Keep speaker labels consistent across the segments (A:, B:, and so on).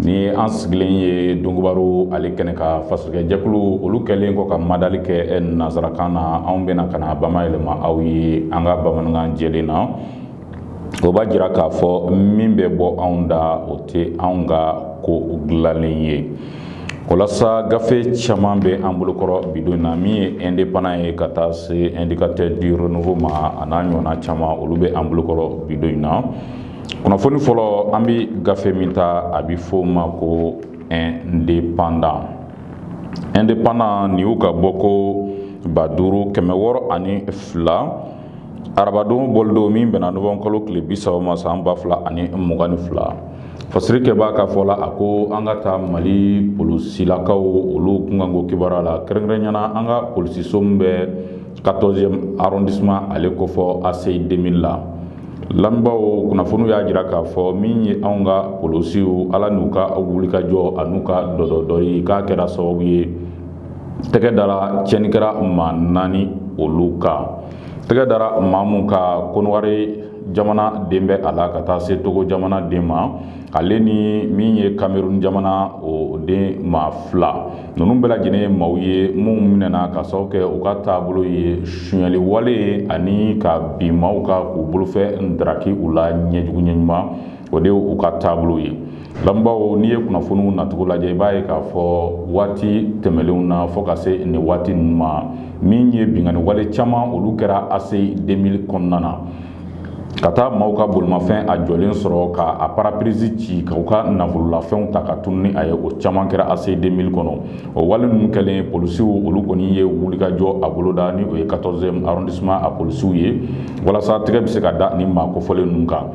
A: ni an sigilen ye donkibaru ale kɛnɛ kan fasirikɛjɛkulu olu kɛlen kɔ ka madali kɛ nansarakan na anw bɛna ka na bama yɛlɛma aw ye an ka bamanankan jɛlen na o b'a jira k'a fɔ min bɛ bɔ anw da o tɛ anw ka ko dilanlen ye walasa gafe caman bɛ an bolokɔrɔ bidon na min ye indépendant ye ka taa se indicateur du renouveau ma a n'a ɲɔgɔnna caman olu bɛ an bolokɔrɔ bidon in na kunnafoni fɔlɔ an bɛ gafe min ta a bɛ fɔ o ma ko indépendant indépendant nin y'u ka bɔko ba duuru kɛmɛ wɔɔrɔ ani fila arabadon bɔlidon min bɛnna nowanburu kalo tile bisaba ma san ba fila ani mugan ni fila fasirikɛbaa ka fɔ la a ko an ka taa mali polisilakaw olu kunkanko kibaruya la kɛrɛnkɛrɛnnenya na an ka polisiso min bɛ 14e arrondissement ale kofɔ ACI 2000 la lamɛnbaaw kunnafoniw y'a jira k'a fɔ min ye anw ka polisiw ala n'u ka wulikajɔ an'u ka dɔdɔ ye k'a kɛra sababu ye tɛgɛ dara tiɲɛnikɛla maa naani olu kan tɛgɛ dara maa minnu kan kɔnɔwari jamana den bɛ a la ka taa se togo jamana den ma ale ni min ye cameroun jamana o den maa fila ninnu bɛɛ lajɛlen ye maaw ye minnu minɛna ka sababu kɛ u ka taabolo ye sonyaliwale ye ani ka bin maaw kan k'u bolofɛn daraki u la ɲɛjugu ɲɛ ɲuman o de u ka taabolo ye lamɛnbaaw n'i ye kunnafoniw nacogo lajɛ i b'a ye k'a fɔ waati tɛmɛnlenw na fo ka se nin waati ninnu ma min ye binkanni wale caman olu kɛra ACI 2000 kɔnɔna na ka taa maaw ka bolimafɛn a jɔlen sɔrɔ ka a pare-brise ci ka u ka nafololafɛnw ta ka tunu ni a ye o caman kɛra ACI 2000 kɔnɔ o wale ninnu kɛlen polisiw olu kɔni ye wulikajɔ a boloda ni o ye 14e arrondissement a polisiw ye walasa tɛgɛ bɛ se ka da nin maa kofɔlen ninnu kan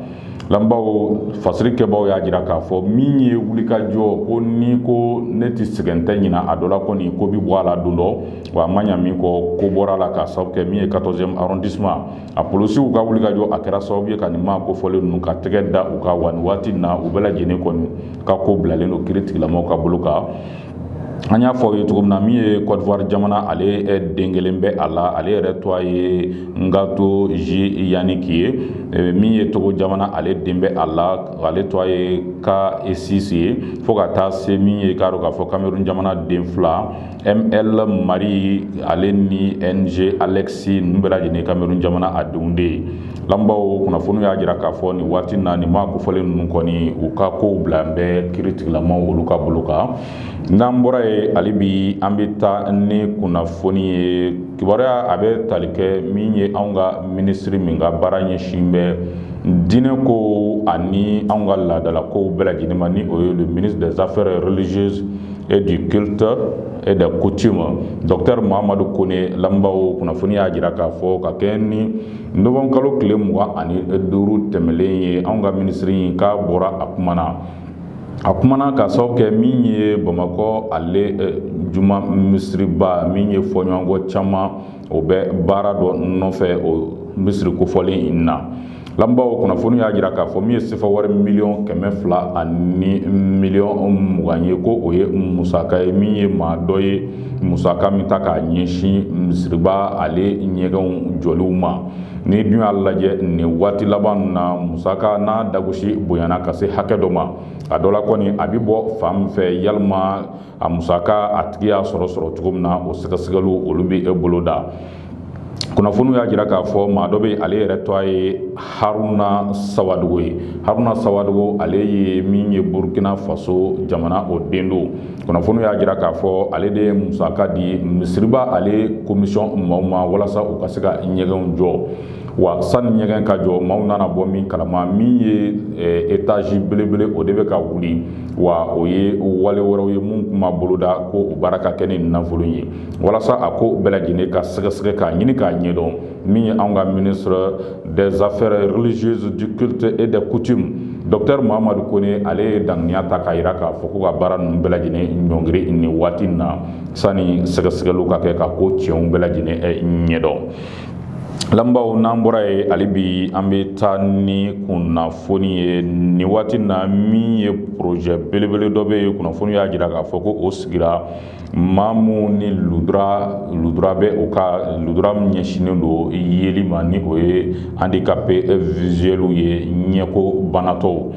A: lamɛnbaaw fasiri kɛbaaw y'a jira k'a fɔ min ye wulikajɔ kɔni ko ne tɛ sɛgɛn tɛ ɲina a dɔ la kɔni ko bɛ bɔ a la don dɔ wa a ma ɲa min kɔ ko bɔra a la k'a sababu kɛ min ye 14e arrondissement a polisiw ka wulikajɔ a kɛra sababu ye ka nin maa kofɔlen ninnu ka tɛgɛ da u kan wa nin waati na u bɛɛ lajɛlen kɔni ka ko bilalen don kiiritigɛla maaw ka bolo kan an y'a fɔ aw ye cogo min na min ye côte d'ivoire jamana ale den kelen bɛ a la ale yɛrɛ tɔgɔ ye ngato j yannick ye min ye togo jamana ale den bɛ a la ale tɔgɔ ye kasisi ye fo ka taa se min ye k'a dɔn k'a fɔ cameroun jamana den fila ML Marie ale ni NG Alexis ninnu bɛɛ lajɛlen ye Cameroun jamana a denw de ye, lamɛnbaaw kunnafoni y'a jira k'a fɔ nin waati in na nin maa kofɔlen ninnu kɔni u ka kow bila bɛ kiritigilamaw olu ka bolo kan, n'an bɔra yen hali bi an bɛ taa ni kunnafoni ye kibaruya a bɛ tali kɛ min ye anw ka minisiri min ka baara ɲɛsin bɛ diinɛ ko ani anw ka laadalakow bɛɛ lajɛlen ma ni o ye le ministre des affaires religieuses et du culte et des coutumes docteur Mahamadou Kone lamɛnbaaw kunnafoni y'a jira k'a fɔ ka kɛɲɛ ni novembre kalo tile mugan ani duuru tɛmɛlen ye anw ka minisiri in k'a bɔra a kumana a kumana ka sababu kɛ min ye bamakɔ ale juma misiriba min ye fɔɲɔgɔnkɔ caman o bɛ baara dɔ nɔfɛ o misiri kofɔlen in na lamɛnbaaw kunnafoni y'a jira k'a fɔ min ye sefa wari miliyɔn kɛmɛ fila ani miliyɔn mugan ye ko o ye musaka ye min ye maa dɔ ye musaka min ta k'a ɲɛsin misiriba ale ɲɛgɛnw jɔliw ma n'i dun y'a lajɛ nin waati laban na musaka n'a dagosi bonyana ka se hakɛ dɔ ma a dɔ la kɔni a bɛ bɔ fan min fɛ walima a musaka a tigi y'a sɔrɔ sɔrɔ cogo min na o sɛgɛsɛgɛliw olu bɛ boloda kunnafoniw y'a jira k'a fɔ maa dɔ bɛ ale yɛrɛ tɔgɔ ye haruna sawadogo ye haruna sawadogo ale ye min ye burkina faso jamana o den don kunnafoniw y'a jira k'a fɔ ale de ye musaka di misiriba ale commission maaw ma walasa u ka se ka ɲɛgɛnw jɔ wa sani ɲɛgɛn ka jɔ maaw nana bɔ min kalama min ye étage belebele o de bɛ ka wuli wa o ye wale wɛrɛw ye minnu tun ma boloda ko o baara ka kɛ ni nafolo ye walasa a ko bɛɛ lajɛlen ka sɛgɛsɛgɛ k'a ɲini k'a ɲɛdɔn min ye an ka ministre des affaires religieuses du culte et des coutumes docteur Mahamadou Kone ale ye daŋaniya ta k'a jira k'a fɔ ko ka baara ninnu bɛɛ lajɛlen ɲɔngiri nin waati in na sani sɛgɛsɛgɛliw ka kɛ ka ko tiɲɛw bɛɛ lajɛlen ɲɛdɔn Lamɛnbaaw n'an bɔra yen hali bi an bɛ taa ni kunnafoni ye nin waati na min ye projet belebele dɔ bɛ yen kunnafoni y'a jira k'a fɔ ko o sigira maa minnu ni lujura lujura bɛ u ka lujura min ɲɛsinnen don yeli ma ni o ye handicapés visuels ye ɲɛko banatɔw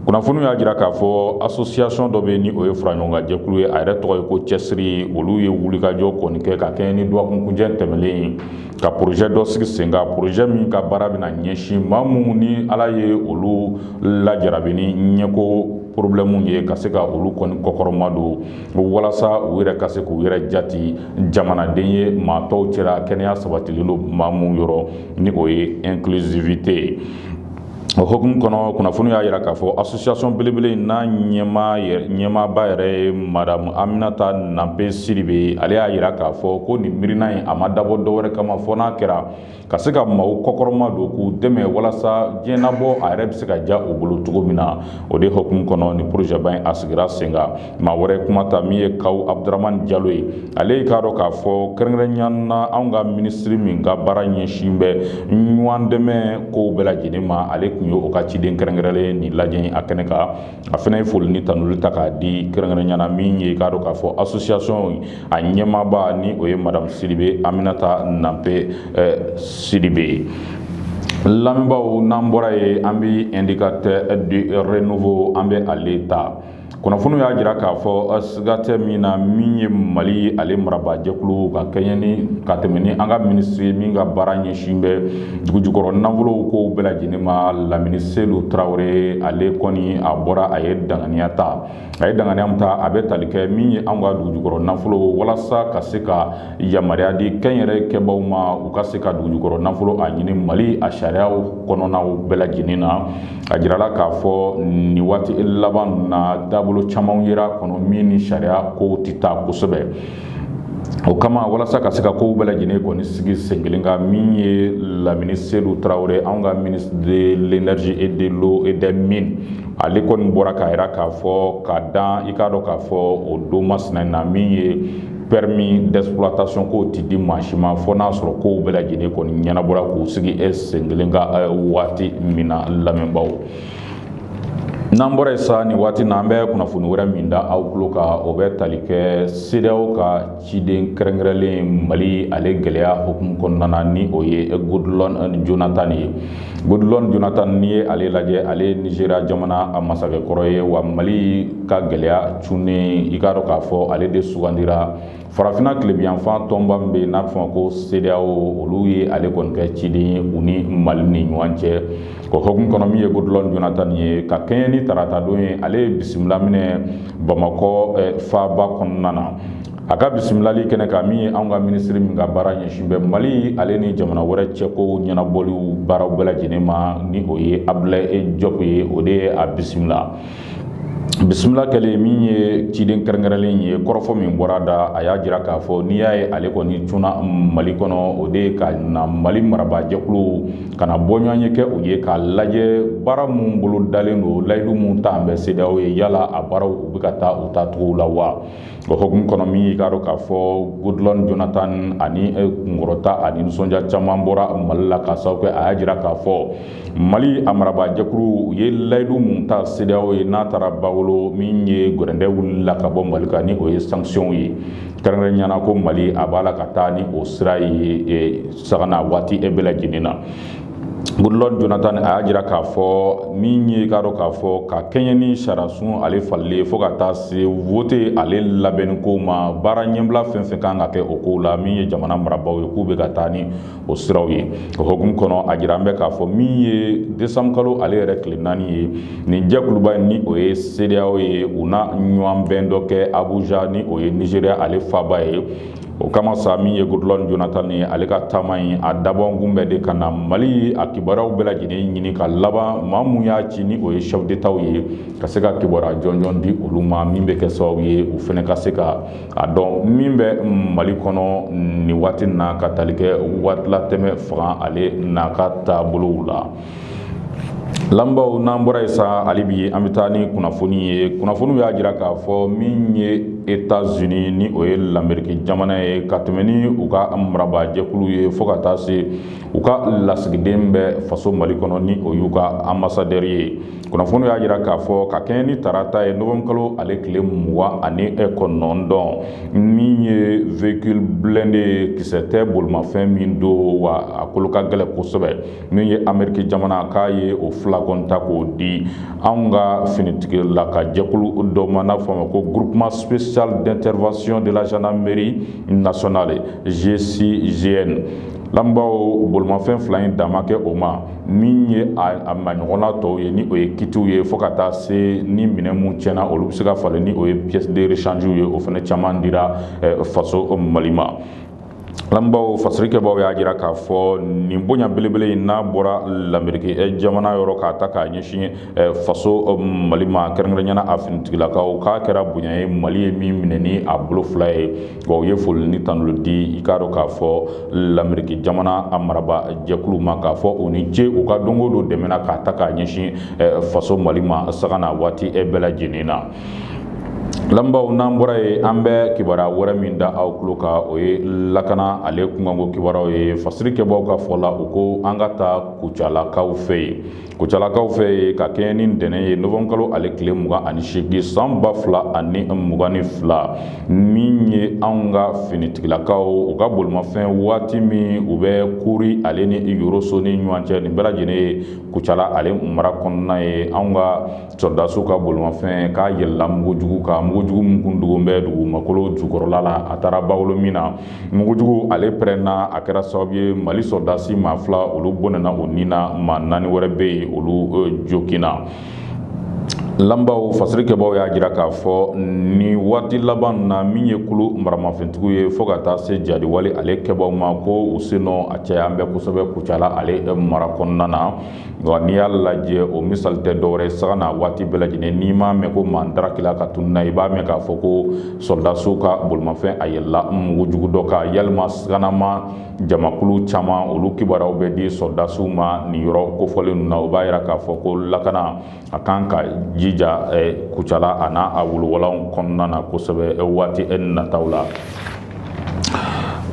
A: kunnafoni y'a jira k'a fɔ association dɔ bɛ ni o ye faraɲɔgɔnkan jɛkulu ye a yɛrɛ tɔgɔ ye ko cɛsiri olu ye wulikajɔ kɔni kɛ ka kɛɲɛ ni dɔgɔkunkuncɛ tɛmɛlen ye ka projet dɔ sigi sen kan projet min ka baara bɛna ɲɛsin maa minnu ni ala ye olu lajarabi ni ɲɛko problème ye ka se ka olu kɔni kɔkɔrɔma don walasa u yɛrɛ ka se k'u yɛrɛ jati jamanaden ye maa tɔw cɛla kɛnɛya sabatilen don maa minnu yɔrɔ ni o ye inclusivité ye O hukumu kɔnɔ kunnafoni y'a jira k'a fɔ asosiyasɔn belebele in n'a ɲɛmaa yɛrɛ ɲɛmaaba yɛrɛ ye madamu aminata nanpe sidibe ye ale y'a jira k'a fɔ ko nin miirina in a ma dabɔ dɔ wɛrɛ kama fɔ n'a kɛra ka se ka maaw kɔkɔrɔma don k'u dɛmɛ walasa diɲɛnabɔ a yɛrɛ bɛ se ka diya u bolo cogo min na o de hukumu kɔnɔ nin porozɛba in a sigira sen maa wɛrɛ kuma ta min ye kawu abudramani jalo ye ale i k'a dɔn k'a fɔ kɛrɛnkɛrɛnya na anw ka minisiri min ka baara ɲɛsin bɛ ɲɔgɔn dɛmɛ kow bɛɛ lajɛlen ma ale tun ye o ka ciden kɛrɛnkɛrɛnlen nin lajɛ a kɛnɛ kan a fana ye foli ni tanuli ta k'a di kɛrɛnkɛrɛnya na min ye i k'a dɔn k'a fɔ asosiyasɔn a ɲɛmaaba ni o ye madamu sidibe aminata nanpe sidibe ye lamɛnbaaw n'an bɔra yen an bɛ indicateur du renouveau an bɛ ale ta kunnafoniw y'a jira k'a fɔ siga tɛ min na min ye mali ale marabaajɛkulu ka kɛɲɛ ni ka tɛmɛ ni an ka minisiri min ka baara ɲɛsin bɛ dugujukɔrɔ nafolow kow bɛɛ lajɛlen ma lamini seyidu tarawele ale kɔni a bɔra a ye danganiya ta a ye danganiya min ta a bɛ tali kɛ min ye an ka dugujukɔrɔ nafolo walasa ka se ka yamaruya di kɛnyɛrɛ kɛbaaw ma u ka se ka dugujukɔrɔ nafolo a ɲini mali a sariyaw kɔnɔnaw bɛɛ lajɛlen na a jirala k'a fɔ nin waati laban na taabolo caman yera kɔnɔ min ni sariya kow tɛ taa kosɛbɛ o kama walasa ka se ka kow bɛɛ lajɛlen kɔni sigi sen kelen kan min ye lamini seyidu tarawele anw ka ministre de l'énergie et de l'eau et des mines ale kɔni bɔra k'a jira k'a fɔ ka dan i k'a dɔn k'a fɔ o don masina na min ye permis d'exploitation kow ti di maa si ma fo n'a sɔrɔ kow bɛɛ lajɛlen kɔni ɲɛnabɔra k'u sigi e sen kelen kan eh, waati min na lamɛnbaaw n'an bɔra yen sa nin waati na an bɛ kunnafoni wɛrɛ min da aw tulo kan o bɛ tali kɛ sedeyaw ka ciden kɛrɛnkɛrɛnlen mali ale gɛlɛya hukumu kɔnɔna na ni o ye goodluck jonathan ye Goodluck jonathan n'i ye ale lajɛ ale ye nizeriya jamana a masakɛ kɔrɔ ye wa mali ka gɛlɛya cunnen i k'a dɔn k'a fɔ ale de sugandira farafinna tilebinyanfan tɔnba min bɛ yen n'a bɛ fɔ a ma ko sedeyaw olu ye ale kɔni kɛ ciden ye u ni mali ni ɲɔgɔn cɛ o hukumu kɔnɔ min ye goodluck jonathan ye ka kɛɲɛ ni tarata don ye ale ye bisimila minɛ bamakɔ faaba kɔnɔna na a ka bisimilali kɛnɛ kan min ye anw ka minisiri min ka baara ɲɛsin bɛ mali ale ni jamana wɛrɛ cɛko ɲɛnabɔliw baaraw bɛɛ lajɛlen ma ni o ye abulayi jɔpu ye o de ye a bisimila bisimila kɛlen min ye ciden kɛrɛnkɛrɛnlen ye kɔrɔfɔ min bɔra da a y'a jira k'a fɔ n'i y'a ye ale kɔni cunna mali kɔnɔ o de ye ka na mali marabaajɛkulu ka na bɔɲɔgɔn ye kɛ u ye k'a lajɛ baara minnu bolo dalen don layidu minnu talen bɛ sedeyaw ye yala a baaraw u bɛ ka taa u tacogo la wa O hokumu kɔnɔ min y'i k'a dɔn k'a fɔ Goodluck Jonathan ani kunkɔrɔta ani nisɔndiya caman bɔra mali la k'a sababu kɛ a y'a jira k'a fɔ mali a marabaajɛkulu u ye layidu minnu ta CEDEAO ye n'a taara ba wolo min ye gɛrɛntɛ wulila ka bɔ mali kan ni o ye sanction ye kɛrɛnkɛrɛnyana ko mali a b'a la ka taa ni o sira ye saga na waati bɛɛ lajɛlen na Goodluck Jonathan a y'a jira k'a fɔ min ye k'a dɔn k'a fɔ ka kɛɲɛ ni sariyasun ale falenni fo ka taa se vote ale labɛnni ko ma baara ɲɛbila fɛn fɛn kan ka kɛ o kow la min ye jamana marabaaw ye k'u bɛ ka taa ni o siraw ye o hokumu kɔnɔ a jira an bɛ k'a fɔ min ye décembre kalo ale yɛrɛ tile naani ye nin jɛkuluba in ni o ye CEDEAO ye u na ɲɔgɔn bɛn dɔ kɛ Abuja ni o ye Nigeria ale faaba ye o kama sa min ye Goodluck Jonathan ye ale ka taama in a dabɔkun bɛ de ka na mali a kibaruyaw bɛɛ lajɛlen ɲini ka laban maa min y'a ci ni o ye chef d'étatw ye ka se ka kibaruya jɔnjɔn di olu ma min bɛ kɛ sababu ye u fɛnɛ ka se ka a dɔn min bɛ mali kɔnɔ nin waati na ka tali kɛ waatilatɛmɛ fanga ale n'a ka taabolow la Lamɛnbaaw n'an bɔra yen sa hali bi an bɛ taa ni kunnafoni ye kunnafoniw y'a jira k'a fɔ min ye États-Unis ni o ye lamerike jamana ye ka tɛmɛ ni u ka marabaajɛkulu ye fo ka taa se u ka lasigiden bɛ faso mali kɔnɔ ni o y'u ka ambassadeur ye kunnafoniw y'a jira k'a fɔ ka kɛɲɛ ni tarata ye novembre kalo ale tile mugan ani e kɔnɔntɔn min ye véhicule blindé ye kisɛ tɛ bolimafɛn min don wa a kolo ka gɛlɛn kosɛbɛ min ye ameriki jamana k'a ye o fila kɔni ta k'o di anw ka finitigilaka jɛkulu dɔ ma n'a fɔ a ma ko groupement spécial d'intervention de la gendarmerie nationale GCGN lamɛnbaaw bolimafɛn fila in dan ma kɛ o ma min ye a maɲɔgɔnna tɔw ye ni o ye kitiw ye fo ka taa se ni minɛn minnu tiɲɛna olu bɛ se ka falen ni o ye pièces de rechange ye o fana caman dira faso Mali ma. lamɛnbaaw fasirikɛbaaw y'a jira k'a fɔ nin bonya belebele in n'a bɔra lamerike eh, jamana yɔrɔ k'a ta k'a ɲɛsin eh, faso eh, mali ma kɛrɛnkɛrɛnyana a finitigilakaw k'a kɛra bonya ye mali ye min minɛ ni a bolo fila ye wa u ye foli ni tanuli di i k'a dɔn k'a fɔ lamerike jamana a maraba jɛkulu ma k'a fɔ u ni ce u ka don go don dɛmɛ na k'a ta k'a ɲɛsin faso mali ma saga na waati bɛɛ lajɛlen na Lamɛnbaaw n'an bɔra yen an bɛ kibaruya wɛrɛ min da aw tulo kan o ye lakana ale kunkanko kibaruyaw ye fasirikɛbaw ka fɔ la u ko an ka taa kucalakaw fɛ yen kucalakaw fɛ yen ka kɛɲɛ ni ntɛnɛn ye novembre kalo ale tile mugan ani seegin san ba fila ani mugan ni fila min ye an ka finitigilakaw u ka bolimafɛn waati min u bɛ Kuri ale ni yɔrɔso ni ɲɔgɔn cɛ nin bɛɛ lajɛlen ye kucala ale mara kɔnɔna ye an ka sɔrɔdasiw ka bolimafɛn k'a yɛlɛla mugujugu kan mugujugu min kun dogon bɛ dugumakolo jukɔrɔla la a taara bawolo min na mugujugu ale pɛrɛnna a kɛra sababu ye mali sɔrɔdasi maa fila olu bɔnɛna o ni na maa naani wɛrɛ bɛ yen olu joginna Lanbaw fasiri kɛbaaw y'a jira k'a fɔ nin waati laban na min ye kulu maramafɛntigiw ye fo ka taa se jadiwale ale kɛbaaw ma ko u sennɔ a cayalen bɛ kosɛbɛ Kucala ale mara kɔnɔna na wa n'i y'a lajɛ o misali tɛ dɔwɛrɛ ye sanga n'a waati bɛɛ lajɛlen n'i m'a mɛn ko maa dara kila ka tunun na i b'a mɛn k'a fɔ ko sɔrɔdasiw ka bolimafɛn a yɛlɛla mugujugu dɔ kan yalima saganama jamakulu caman olu kibaruyaw bɛ di sɔrɔdasiw ma nin yɔrɔ kofɔlen ninnu na o b'a jira k'a fɔ ko lakana A kan ka jija kucala a n'a a wolowalaw kɔnɔna na kosɛbɛ waati e nataw la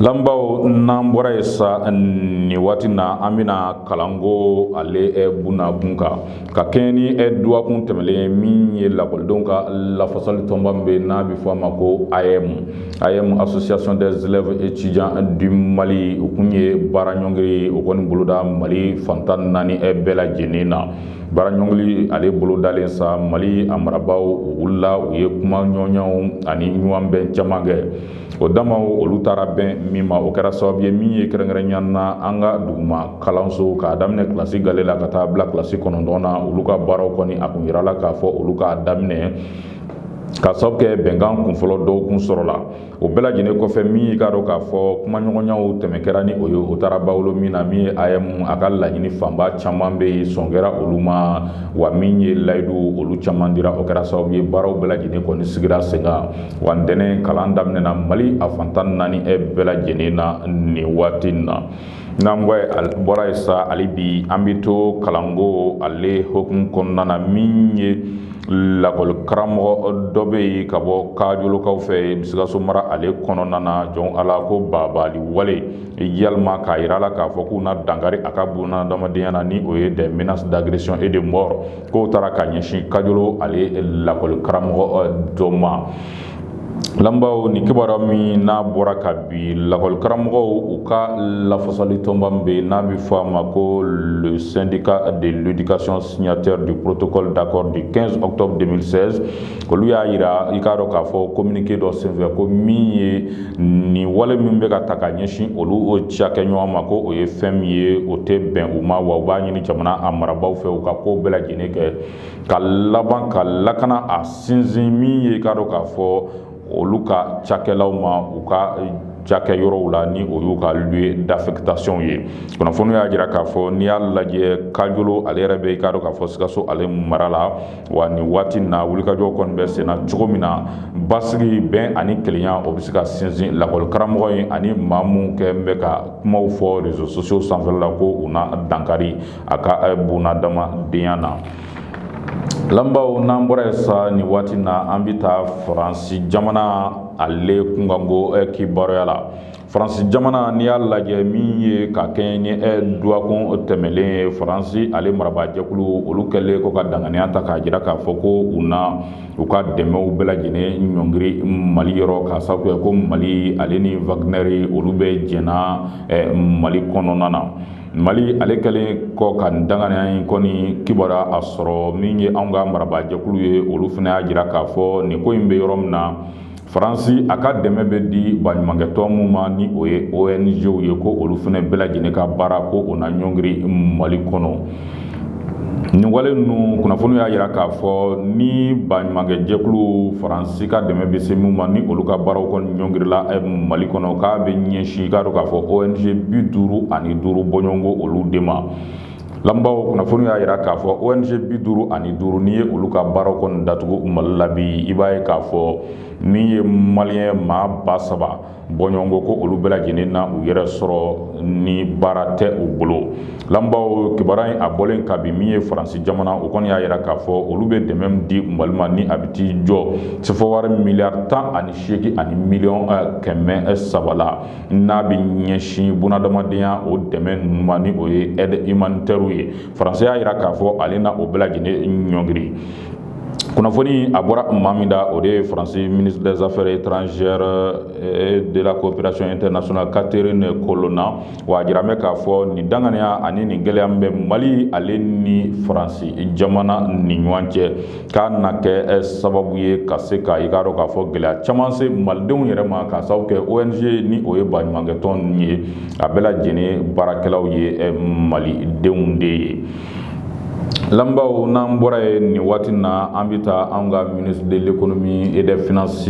A: lanbaw n'an bɔra yen sa nin waati na an bɛna kalanko ale bun a kun kan ka kɛɲɛ ni dɔgɔkun tɛmɛnlen min ye lakɔlidenw ka lafasali tɔnba min bɛ n'a bɛ fɔ a ma ko AEEM Association des élèves et étudiants du Mali u kun ye baaraɲɔngiri o kɔni boloda mali fantan naani bɛɛ lajɛlen na Baaraɲɔngiri ale bolodalen sa mali a marabaaw u wulila u ye kumaɲɔgɔnyaw ani ɲɔgɔnbɛn caman kɛ o damaw olu taara bɛn min ma o kɛra sababu ye min ye kɛrɛnkɛrɛnya na an ka duguma kalanso k'a daminɛ kilasi gale la ka taa bila kilasi kɔnɔntɔn na olu ka baaraw kɔni a kun jirala k'a fɔ olu ka daminɛ ka sababu kɛ bɛnkan kunfɔlɔ dɔw kun sɔrɔla o bɛɛ lajɛlen kɔfɛ min y'i k'a dɔn k'a fɔ kumaɲɔgɔnyaw tɛmɛ kɛra ni o ye o taara bawolo min na min ye AEEM a ka laɲini fanba caman bɛ yen sɔn kɛra olu ma wa min ye layidu olu caman dira o kɛra sababu ye baaraw bɛɛ lajɛlen kɔni sigira sen kan wa ntɛnɛn kalan daminɛna mali a fantan naani e bɛɛ lajɛlen na nin waati in na n'an bɔra yen sa hali bi an bɛ to kalanko ale hukumu kɔnɔna na min ye lakɔli karamɔgɔ dɔ bɛ yen ka bɔ Kajolokaw fɛ sikaso mara ale kɔnɔna na jɔn ala ko baabaali wale yalima k'a jira a la k'a fɔ k'u na dankari a ka bunadamadenya na ni o ye des menaces d'agression et de mort k'o taara ka ɲɛsin Kajolo ale lakɔli karamɔgɔ dɔ ma Lanbaw nin kibaruya min n'a bɔra kabi lakɔlikaramɔgɔw u ka lafasali tɔnba min bɛ n'a bɛ fɔ a ma ko le syndicat de l'éducation signataire du protocole d'accord du quinze octobre deux mille seize olu y'a jira i k'a dɔn k'a fɔ communiqué dɔ senfɛ ko min ye nin wale min bɛ ka taa ka ɲɛsin olu o cakɛɲɔgɔn ma ko o ye fɛn min ye o tɛ bɛn u ma wa u b'a ɲini jamana a marabagaw fɛ u ka ko bɛɛ lajɛlen kɛ ka laban ka lakana a sinsin min ye i k'a dɔn k'a fɔ olu ka cakɛlaw ma u ka cakɛ yɔrɔw la ni o y'u ka lieu d'affectation ye kunnafoni y'a jira k'a fɔ n'i y'a lajɛ kajolo ale yɛrɛ bɛ i k'a dɔn k'a fɔ sikaso ale mara la wa nin waati na wulikajɔ kɔni bɛ senna cogo min na basigi bɛn ani kelenya o bɛ se ka sinsin lakɔlikaramɔgɔ in ani maa min kɛ bɛ ka kumaw fɔ réseaux sociaux sanfɛ la ko u na dankari a ka bunadamadenya na lamɛnbaaw n'an bɔra yen sa nin waati na an bɛ taa faransi jamana ale kunkanko eh, kibaruya la faransi jamana n'i y'a lajɛ min ye ka kɛɲɛ ni eh, dɔgɔkun tɛmɛlen ye faransi ale marabaajɛkulu olu kɛlen kɔ ka danganiya ta k'a jira k'a fɔ ko u na u ka dɛmɛw bɛɛ lajɛlen ɲɔngiri mali yɔrɔ k'a sababu kɛ ko mali ale ni wagnɛri olu bɛ jɛn na eh, mali kɔnɔna na mali ale kɛlen kɔ ka danganiya in kɔni kibaruya a sɔrɔ min ye anw ka marabaajɛkulu ye olu fana y'a jira k'a fɔ nin ko in bɛ yɔrɔ min na faransi a ka dɛmɛ bɛ di baɲumankɛtɔn min ma ni o ye ong ye ko olu fana bɛɛ lajɛlen ka baara ko o na ɲɔngiri mali kɔnɔ nin wale ninnu kunnafoni y'a jira k'a fɔ ni baɲumankɛ jɛkulu faransi ka dɛmɛ bɛ se minw ma ni olu ka baaraw kɔni ɲɔngirila eh, mali kɔnɔ k'a bɛ ɲɛsin i k'a dɔn k'a fɔ ong bi duuru ani duuru bɔɲɔgɔnko olu de ma lamɛnbaaw kunnafoni y'a jira k'a fɔ ong bi duuru ani duuru n'i ye olu ka baaraw kɔni datugu mali la bi i b'a ye k'a fɔ min ye maliyɛn maa ba saba bɔɲɔgɔnko ko olu bɛɛ lajɛlen na u yɛrɛ sɔrɔ ni baara tɛ u bolo lamɛnbaaw kibaruya in a bɔlen ka bi min ye faransi jamana o kɔni y'a yira k'a fɔ olu bɛ dɛmɛ di mali ma ni a bɛ t'i jɔ sefɔwari miliyari tan ani seegin ani miliyɔn eh, kɛmɛ eh, saba la n'a bɛ ɲɛsin bunadamadenya o dɛmɛ ninnu ma ni o ye aide humanitairew ye faransi y'a yira k'a fɔ ale na o bɛɛ lajɛlen ɲɔngiri kunnafoni a bɔra maa min da o de ye faransi ministre des affaires étrangères et de la coopération internationale catherine colonna wa a jiralen bɛ k'a fɔ nin danganiya ani nin gɛlɛya min bɛ mali ale ni faransi jamana ni ɲɔgɔn cɛ k'a na kɛ sababu ye ka se ka i k'a dɔn k'a fɔ gɛlɛya caman se malidenw yɛrɛ ma k'a sababu kɛ ong ni o ye baɲumankɛtɔn ninnu ye a bɛɛ lajɛlen baarakɛlaw ye malidenw de ye Lamɛnbaaw n'an bɔra yen nin waati na an bɛ taa an ka ministre de l'économie et des finances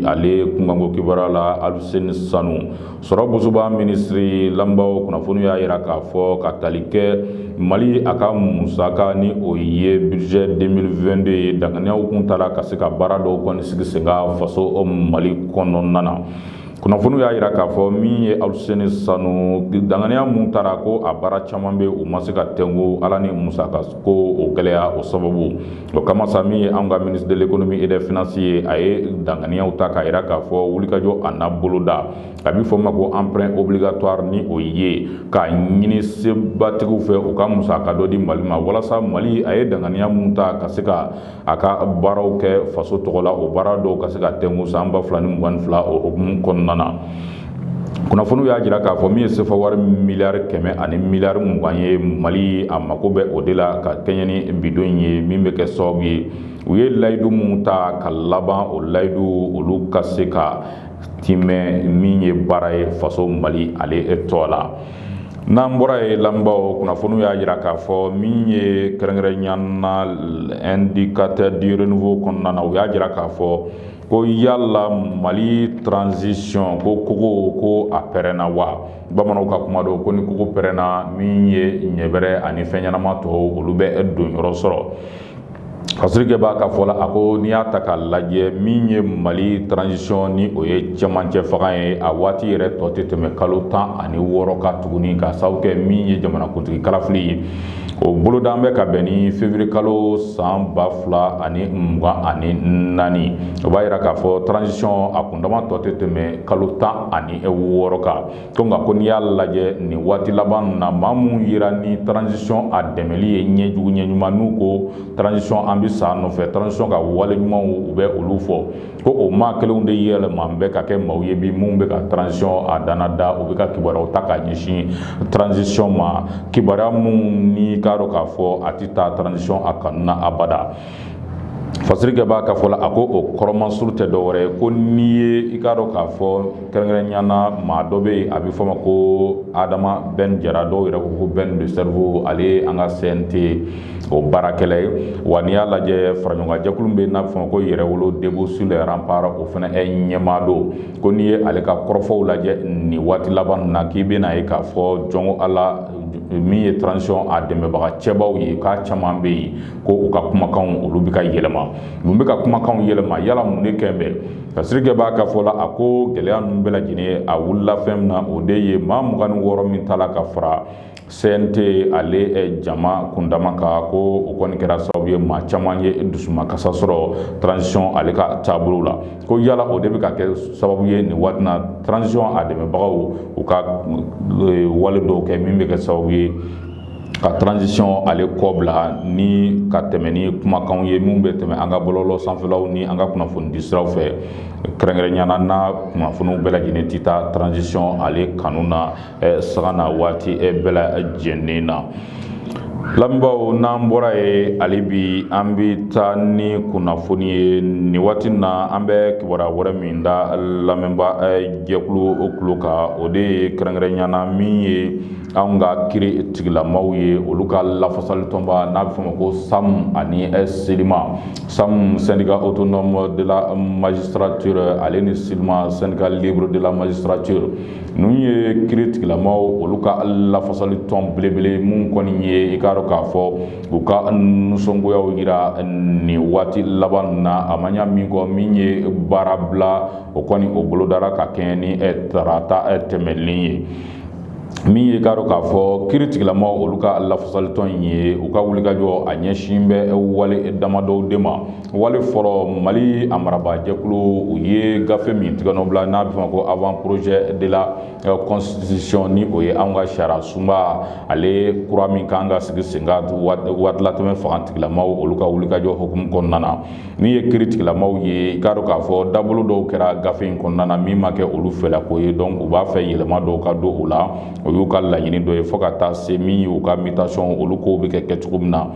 A: ale kunkanko kibaruya la aluseni sanu sɔrɔ bosoba minisiri lamɛnbaaw kunnafoni y'a jira k'a fɔ ka tali kɛ mali a ka musaka ni o ye bijɛ deux mille vingt-deux ye danganiyaw kun tara ka se ka baara dɔw kɔni sigi sen kan faso mali kɔnɔna na kunnafoniw y'a jira k'a fɔ min ye Aluseni Sanu danganiya min tara ko a baara caman bɛ u ma se ka tɛnku Ala ni musaka ko o gɛlɛya o sababu o kama sa min ye anw ka ministre de l'économie et des finances ye a ye danganiyaw ta k'a jira k'a fɔ wulikajɔ a n'a boloda a bɛ fɔ o ma ko emprunt obligatoire ni o ye k'a ɲini sebatigiw fɛ u ka musaka dɔ di Mali ma walasa Mali a ye danganiya min ta ka se ka a ka baaraw kɛ faso tɔgɔ la o baara dɔw ka se ka tɛnku san ba fila ni mugan fila o hukumu kɔnɔna na kunnafoniw y'a jira k'a fɔ min ye sefa wari miliyari kɛmɛ ani miliyari mugan ye mali a mako bɛ o de la ka kɛɲɛ ni bi don in ye min bɛ kɛ sababu ye u ye layidu minnu ta ka laban o layidu olu ka se ka timɛ min ye baara ye faso mali ale tɔɔ la n'an bɔra yen lamɛnbaw kunnafoniw y'a jira k'a fɔ min ye kɛrɛnkɛrɛnnenya na Indicateur du Renouveau kɔnɔna na u y'a jira k'a fɔ ko yala mali transition ko kogo ko a pɛrɛnna wa bamananw ka kuma don ko ni kogo pɛrɛnna min ye ɲɛbɛrɛ ani fɛn ɲɛnama tɔw olu bɛ donyɔrɔ sɔrɔ Fasirikɛbaa ka fɔ la a ko n'i y'a ta k'a lajɛ min ye mali transition ni o ye cɛmancɛ fanga ye a waati yɛrɛ tɔ tɛ tɛmɛ kalo tan ani wɔɔrɔ kan tuguni ka sababu kɛ min ye jamanakuntigi kalafili ye o boloda bɛ ka bɛn ni février kalo san ba fila ani mugan ani naani o b'a jira k'a fɔ transition a kundama tɔ tɛ tɛmɛ kalo tan ani wɔɔrɔ kan Ko nka ko n'i y'a lajɛ nin waati laban na maa minnu jira ni transition a dɛmɛli ye ɲɛ jugu ɲɛ ɲuman n'u ko transition an bɛ sa a nɔfɛ transition ka wale ɲumanw u bɛ olu fɔ ko o maa kelenw de yɛlɛma bɛ ka kɛ maaw ye bi minnu bɛ ka transition a dana da u bɛ ka kibaruyaw ta ka ɲɛsin transition ma kibaruya minnu n'i k'a dɔn k'a fɔ a tɛ taa transition a kanu na abada fasirikɛbaa ka fɔ la a ko o kɔrɔmansuru tɛ dɔwɛrɛ ye ko n'i ye i k'a dɔn k'a fɔ kɛrɛnkɛrɛnnenya na maa dɔ bɛ yen a bɛ fɔ ma ko Adama Ben Jara dɔw yɛrɛ ko Ben de cerveau ale ye an ka CNT o baarakɛla ye wa n'i y'a lajɛ faraɲɔgɔnjɛkulu bɛ n'a bɛ fɔ ma ko Yɛrɛwolo debout sur les remparts o fana ɲɛmaa don ko n'i ye ale ka kɔrɔfɔw lajɛ nin waati laban na k'i bɛna a ye k'a fɔ jɔnko a la min ye transition a dɛmɛbaga cɛbaw ye k'a caman bɛ yen ko u ka kumakanw olu bɛ ka yɛlɛma mun bɛ ka kumakanw yɛlɛma yala mun de kɛlen bɛ fasirikɛbaa ka fɔ la a ko gɛlɛya ninnu bɛɛ lajɛlen a wulila fɛn min na o de ye maa mugan ni wɔɔrɔ min tala ka fara CNT ale jama kundama kan ko o kɔni kɛra sababu ye maa caman ye dusumakasa sɔrɔ transition ale ka taabolo la ko yala o de bɛ ka kɛ sababu ye nin waati na transition a dɛmɛbagaw u ka wale dɔw kɛ min bɛ kɛ sababu ye ka transition ale kɔbila ni ka tɛmɛ ni kumakanw ye minnu bɛ tɛmɛ an ka bɔlɔlɔ sanfɛlaw ni an ka kunnafoni di siraw fɛ kɛrɛnkɛrɛnnenya na kunnafoniw bɛɛ lajɛlen tɛ taa transition ale kanu na sago na waati bɛɛ lajɛlen na lamɛnbaw n'an bɔra yen hali bi an bɛ taa ni kunnafoni ye nin waati na an bɛ kibaruya wɛrɛ min da lamɛnba jɛkulu kulo kan o de ye kɛrɛnkɛrɛnnenya na min ye anw ka kiri tigilamaw ye olu ka lafasalitɔnba n'a bɛ fɔ ma ko sam ani sylima sam syndicat autonome de la magistrature ale ni sylima syndicat libre de la magistrature ninnu ye kiri tigilamaw olu ka lafasali tɔn belebele minnu kɔni ye i k'a dɔn k'a fɔ u ka nisɔngoyaw yira nin waati laban na a ma ɲɛ min kɔ min ye baara bila o kɔni o bolodara ka kɛɲɛ ni tarata tɛmɛnen ye min ye k'a dɔn k'a fɔ kiiritigilamaw olu ka lafasalitɔn in ye u ka wulikajɔ a ɲɛsin bɛ wale damadɔw de ma wale fɔlɔ mali a marabaajɛkulu u ye gafe min tigɛnɔbila n'a bɛ fɔ ma ko avant-projet de la constitution ni o ye an ka sariya sunba ale kura min kan ka sigi sen kan waatilatɛmɛ fangatigilamaw olu ka wulikajɔ hukumu kɔnɔna na Min ye kiritigilamaw ye i k'a dɔn k'a fɔ dabolo dɔw kɛra gafe in kɔnɔna na min ma kɛ olu fɛla ko ye donc u b'a fɛ yɛlɛma dɔw ka don o la o y'u ka laɲini dɔ ye fo ka taa se min ye u ka mutation olu kow bɛ kɛ kɛcogo min na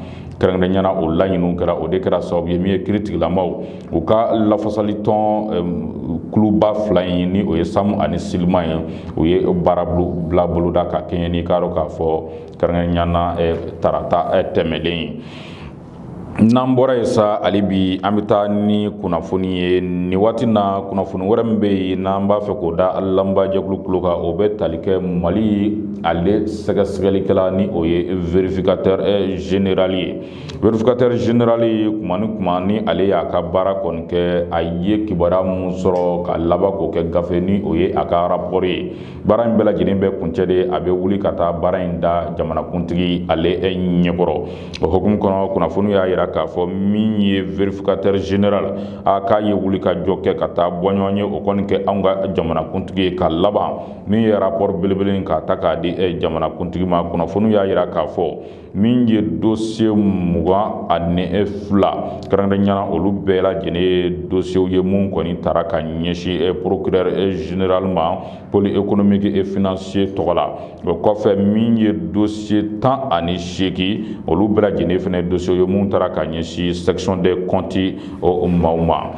A: kɛrɛnkɛrɛnnenya na o laɲini kɛra o de kɛra sababu ye min ye kiritigilamaw u ka lafasali tɔn kuluba fila in ni o ye sam ani sylima ye u ye baara bila boloda ka kɛɲɛ n'i k'a dɔn k'a fɔ kɛrɛnkɛrɛnnenya na tarata tɛmɛnen ye n'an bɔra yen sa hali bi an bɛ taa ni kunnafoni ye nin waati na kunnafoni wɛrɛ min bɛ yen n'an b'a fɛ k'o da lamɛnbajɛkulu kulo kan o bɛ tali kɛ mali ale sɛgɛsɛgɛlikɛla ni o ye vérificateur général ye vérificateur général kuma ni kuma ni ale y'a ka baara kɔni kɛ a ye kibaruya minnu sɔrɔ ka laban k'o kɛ gafe ni o ye a ka rapport ye baara in bɛɛ lajɛlen bɛ kuncɛ de a bɛ wuli ka taa baara in da jamanakuntigi ale e ɲɛkɔrɔ o hukumu kɔnɔ kunnafoni y'a yira k'a fɔ min ye vérificateur général a k'a ye wulikajɔ kɛ ka taa bɔɲɔgɔn ye o kɔni kɛ anw ka jamanakuntigi ye ka laban min ye rapport belebele k'a ta k'a di jamanakuntigi ma kunnafoni y'a yira k'a fɔ min ye dosiye mugan ani e fila kɛrɛnkɛrɛnnenya na olu bɛɛ lajɛlen ye dosiyew ye mun kɔni taara ka ɲɛsin e procureur e général ma pôle économique et financier tɔgɔ la o kɔfɛ min ye dosiye tan ani seegin olu bɛɛ lajɛlen fana ye dosiyew ye mun taara ka ɲɛsin section des comptes o maaw ma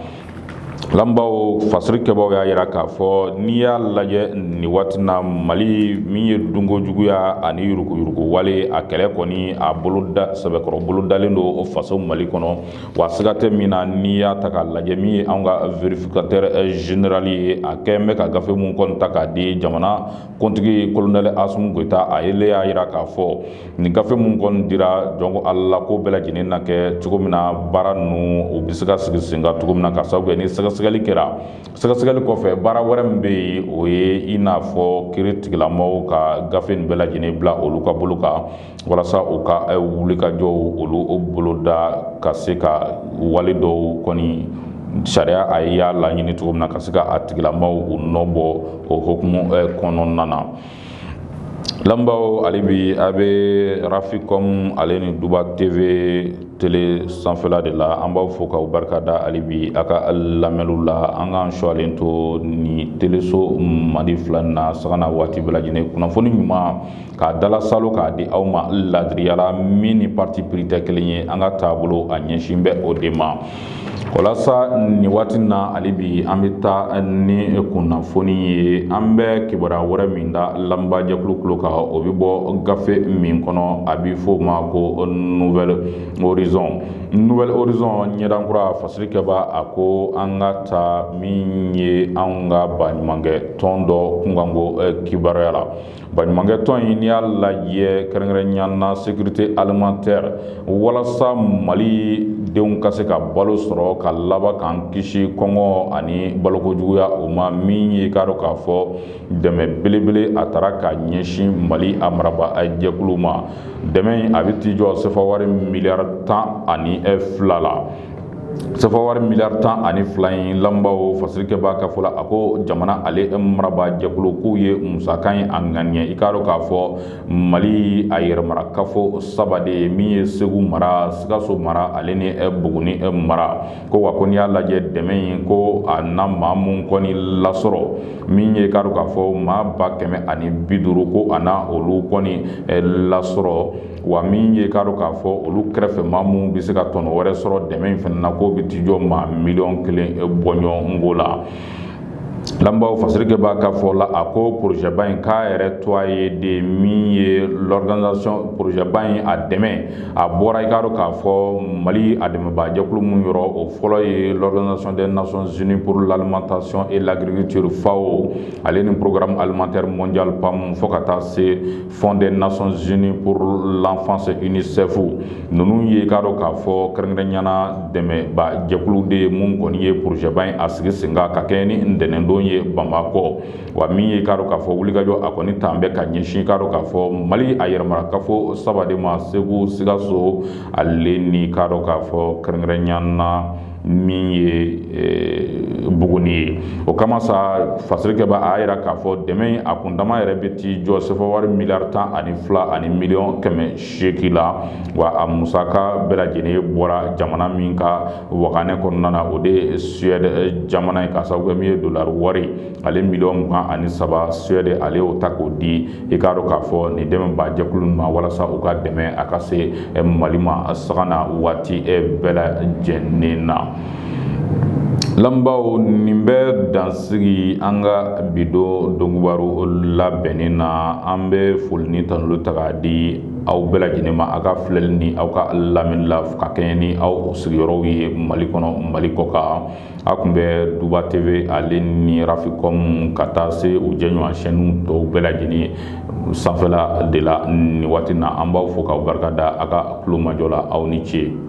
A: lamɛnbaw fasirikɛba y'a jira k'a fɔ n'i y'a lajɛ nin waati na mali min ye dunko juguya ani yuruguyurugu wale a kɛlɛ kɔni a boloda sɛbɛkɔrɔ bolo dalen don o faso mali kɔnɔ wa siga tɛ min na n'i y'a ta k'a lajɛ min ye an ka vérificateur général ye a kɛlen bɛ ka gafe minnu kɔni ta k'a di jamana kuntigi kolonɛli asimi goyita a ye y'a jira k'a fɔ nin gafe minnu kɔni dira jɔnko ala ko bɛɛ lajɛlen na kɛ cogo min na baara ninnu u bɛ se ka sigi sen kan cogo min na ka sababu kɛ ni sɛgɛsɛgɛli kɛra sɛgɛsɛgɛli kɔfɛ baara wɛrɛ min bɛ yen o ye i n'a fɔ kiri tigilamaaw ka gafe nin bɛɛ lajɛlen bila olu ka bolo kan walasa u ka eh, wulikajɔw olu boloda ka se ka wale dɔw kɔni sariya a y'a laɲini cogo min na ka se ka a tigilamaaw u nɔ bɔ o hukumu eh, kɔnɔna na lamɛnbaw hali bi a bɛ rafikɔm ale ni duba tv tele sanfɛla de la an b'aw fo k'aw barika da hali bi a ka lamɛnniw la an k'an sualen to ni teleso mali fila na sanga ni waati bɛɛ lajɛlen kunnafoni ɲuman k'a dalasalo k'a di aw ma ladiriya la min ni parti pris tɛ kelen ye an ka taabolo a ɲɛsin bɛ o de ma walasa nin waati na hali bi an bɛ taa ni kunnafoni ye an bɛ kibaruya wɛrɛ min da lamɛnba jɛkulu kulo kan o bɛ bɔ gafe min kɔnɔ a bɛ fɔ o ma ko nouvel horizon nouvel horizon ɲɛdankura fasirikɛba a ko an ka taa min ye an ka baɲumankɛ tɔn dɔ kunkanko kibaruya la Baɲumankɛ tɔn in n'i y'a lajɛ kɛrɛnkɛrɛnnenya na sécurité alimentaire walasa mali denw ka se ka balo sɔrɔ ka laban k'an kisi kɔngɔ ani baloko juguya o ma min ye k'a dɔn k'a fɔ dɛmɛ belebele a taara ka ɲɛsin mali a marabaa jɛkulu ma dɛmɛ in a bɛ t'i jɔ sefawari miliyari tan ani fila la sefawari miliyari tan ani fila in lamɛnbaaw fasirikɛba ka fɔ la a ko jamana ale marabaa jɛkulu k'u ye musaka in a ŋaniya i k'a dɔn k'a fɔ mali a yɛrɛmarakafo saba de ye min ye segu mara sikaso mara ale ni buguni mara ko wa ko n'i y'a lajɛ dɛmɛ in ko a na maa mun kɔni lasɔrɔ min ye i k'a dɔn k'a fɔ maa ba kɛmɛ ani bi duuru ko a na olu kɔni lasɔrɔ wa min ye k'a dɔn k'a fɔ olu kɛrɛfɛ maa minnu bɛ se ka tɔnɔ wɛrɛ sɔrɔ dɛmɛ in fana na k'o bɛ t'i jɔ maa miliyɔn kelen bɔɲɔgɔnko la lamɛnbaaw fasirikɛba ka fɔ la a ko porozɛba in k'a yɛrɛ to a ye de min ye l'organisation porozɛba in a dɛmɛ a bɔra i k'a dɔn k'a fɔ mali a dɛmɛbaajɛkulu min yɔrɔ o fɔlɔ ye l'organisation des nations unies pour l'alimentation et l'agriculture fao ale ni programme alimentaire mondial pam fo ka taa se fonds des nations unies pour l'enfance unicef ninnu ye k'a dɔn k'a fɔ kɛrɛnkɛrɛnnenya na dɛmɛbaajɛkulu de ye minnu kɔni ye porozɛba in a sigi sen kan ka kɛɲɛ ni ntɛnɛndon ye bamakɔ wa min ye k'a dɔn k'a fɔ wulikajɔ a kɔni t'an bɛ ka ɲɛsin k'a dɔn k'a fɔ mali a yɛrɛmarakafo saba de ma segu sikaso ale ni k'a dɔn k'a fɔ kɛrɛnkɛrɛnnenya na min ye buguni ye o kama sa fasirikɛbaa y'a jira k'a fɔ dɛmɛ a kundama yɛrɛ bɛ t'i jɔ sefawari miliyari tan ani fila ani miliyɔn kɛmɛ seegin la wa a musaka bɛɛ lajɛlen bɔra jamana min ka waganɛ kɔnɔna na o de suède jamana ye k'a sababu kɛ min ye dolari wari ale miliyɔn mugan ani saba suède ale y'o ta k'o di i k'a dɔn k'a fɔ nin dɛmɛbaajɛkulu ma walasa u ka dɛmɛ a ka se eh, mali ma sanga ni waati eh, bɛɛ lajɛlen na lamɛnbaaw nin bɛ dansigi an ka bi don donkibaru labɛnnen na an bɛ foli ni tanuli ta k'a di aw bɛɛ lajɛlen ma aw ka filɛli ni aw ka lamɛnni la ka kɛɲɛ ni aw sigiyɔrɔw ye mali kɔnɔ mali kɔ kan aw tun bɛ duba tv ale ni raficom ka taa se u jɛɲɔgɔn chaîne tɔw bɛɛ lajɛlen sanfɛla de la nin waati na an b'aw fo k'aw barika da a ka kulomajɔ la aw ni ce